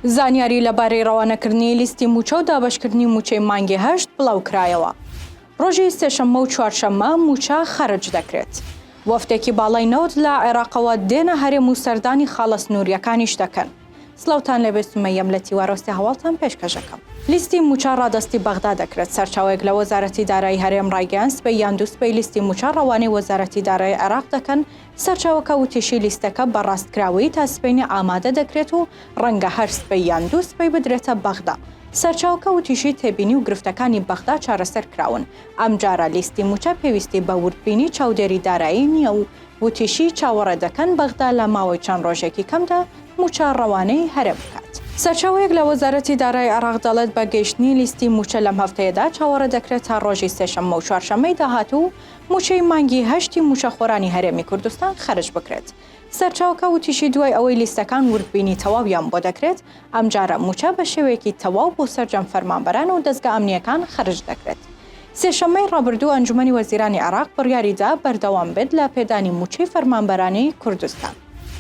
زانیاری لەبارەی ڕەوانەکردنی لیستی موچە و دابشکردنی موچەی مانگی هەشت بڵاو کرایەوە. ڕۆژی سێشەممە و چوارشەممە موچە خەرج دەکرێت. وەفدێکی باڵای نەوت لە عێراقەوە دێنە هەرێم و سەردانی خاڵە سنووریەکانیش دەکەن. سڵاوتان لێبێ سومەیەم لە تیوا ڕەستی هەواڵتان پێشکەش ئەکەم. لیستی مووچە ڕادەستی بەغدا دەکرێت، سەرچاوەیەک لە وەزارەتی دارایی هەرێم ڕایگەیاند سبەی یان دوو سبەی لیستی مووچە ڕەوانەی وەزارەتی دارایی عێراق دەکەن، سەرچاوەکە وتیشی لیستەکە بە ڕاستکراوەیی تا سبەینێ ئامادە دەکرێت و ڕەنگە هەر سبەی یان دوو سبەی بدرێتە بەغدا. سەرچاوەکە وتیشی تێبینی و گرفتەکانی بەغدا چارەسەر کراون، ئەمجارە لیستی مووچە پێویستی بە وردبینی چاودێری دارایی نییە و وتیشی، چاوەڕێ دەکەن بەغدا لە ماوەی چەند ڕۆژێکی کەمدا مووچە ڕەوانەی هەرێم بکات. سەرچاوەیەک لە وەزارەتی دارای عێراق دەڵێت، بە گەیشتنی لیستی مووچە لەم هەفتەیەدا چاوەڕێ دەکرێت تا ڕۆژی سێشەممە و چوارشەممەی داهاتوو مووچەی مانگی هەشتی مووچەخۆرانی هەرێمی کوردستان خەرج بکرێت. سەرچاوەکە وتیشی، دوای ئەوەی لیستەکان وردبینی تەواویان بۆ دەکرێت، ئەمجارە مووچە بە شێوەیەکی تەواو بۆ سەرجەم فەرمانبەران و دەزگا ئەمنییەکان خەرج دەکرێت. سێشەممەی ڕابردوو ئەنجومەنی وەزیرانی عێراق بڕیاری دا بەردەوام بێت لە پێدانی مووچەی فەرمانبەرانی کوردستان.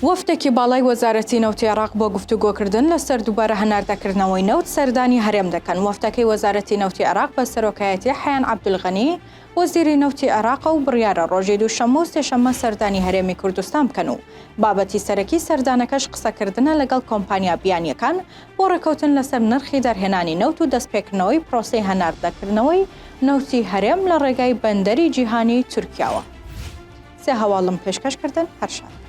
وەفدێکی باڵای وەزارەتی نەوتی عێراق بۆ گفتوگۆکردن لەسەر دووبارە هەناردەکردنەوەی نەوت سەردانی هەرێم دەکەن، وەفدەکەی وەزارەتی نەوتی عێراق بە سەرۆکایەتی حەیان عەبدولغەنی وەزیری نەوتی عێراقە و بڕیارە ڕۆژی دووشەممە و سێشەممە سەردانی هەرێمی کوردستان بکەن و بابەتی سەرەکی سەردانەکەش قسەکردنە لەگەڵ کۆمپانیا بیانییەکان بۆ ڕێککەوتن لەسەر نرخی دەرهێنانی نەوت و دەستپێکردنەوەی پرۆسەی هەناردەکردنەوەی نەوتی هەرێم لە ڕێگای بەندەری جیهانی تورکیاوە سێ هەواڵم پێشکەش کردن هەر شاد بن.